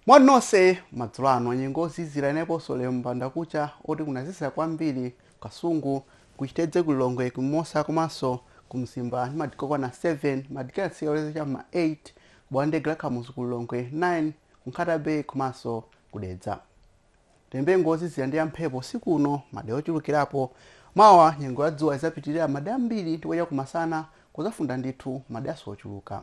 moni nonse madzulo ano nyengo ozizira ineponso lero mbanda kucha oti kunazizira kwambiri kasungu kuchitedze kulilongwe kumimosa komanso kumzimba ndi madigiri okwana 7 madigiri anatsika kulekeza cha mma 8 ku bwalo la ndege la kamuzu kulilongwe 9 kunkhata bay komanso kudedza Tiyembekeze nyengo ozizira ndi yamphepo usiku uno, madera ochulukirapo. Mawa nyengo ya dzuwa izapitilira madera ambiri ndipo chakumasana kuzafunda ndithu maderaso ochuluka.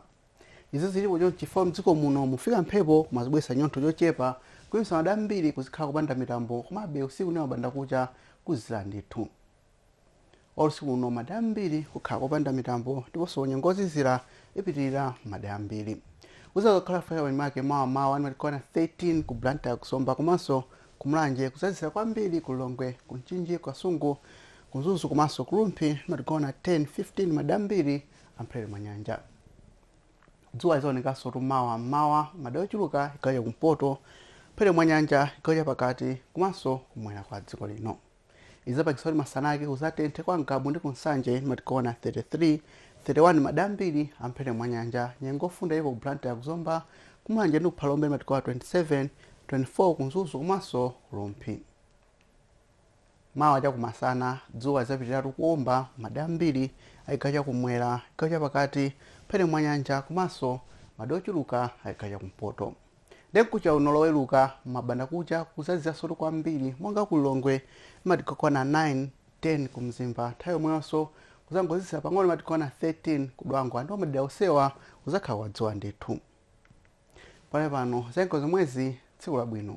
Izi zilipo chonchi chifukwa mdziko muno mufika mphepo yomwe izibweretsa chinyontho chochepa kuimisa madera ambiri kuzikhala kopanda mitambo komabe usiku ndi mabandakucha kuzizira ndithu. Olo usiku uno madera ambiri kukhala kopanda mitambo ndiponso nyengo yozizira ipitilira m'madera ambiri. Kuzakhala kufika pa chimake mawa m'mawa ndi madigiri okwana 13 ku Blantyre ku Zomba komanso ku Mulanje kuzazizira kwambiri ku Lilongwe, ku Mchinji, ku Kasungu, ku Mzuzu komanso ku Rumphi ndi madigiri okwana 10, 15 m'madera ambiri a m'phepete mwa nyanja. Dzuwa lidzaonekansotu mawa m'mawa m'madera ochuluka chigawo cha kumpoto, m'phepete mwa nyanja, chigawo cha pakati komanso kumwera kwa dziko lino. izapangisa kuti masana ake kuzatenthe kwa ngabu ndi kunsanje ndi madigiri okwana 33 31 madera ambiri amphepete mwa nyanja nyengo ofunda iko ku blantyre kuzomba kumulanje ndi kuphalombe madigiri okwana 27 24 kumzuzu komanso kurumphi mawa chakumasana dzuwa lizapitiriratu kuomba madera ambiri a chigawo chakumwera chigawo chapakati mphepete mwa nyanja komanso madera ochuluka a chigawo chakumpoto Nde mkucha uno loweruka mmabanda kucha kuzazizirasotu kwambiri monga ku Lilongwe ndi madigiri okwana 9, 10 ku Mzimba nthawi yomweyoso kuzangozizira pang'ono ndi madigiri okwana 13 ku Dwangwa ndipo madera onsewa kuzakhala kwa dzuwa ndithu. Pakali pano zanyengo ndi zomwezi tsiku labwino.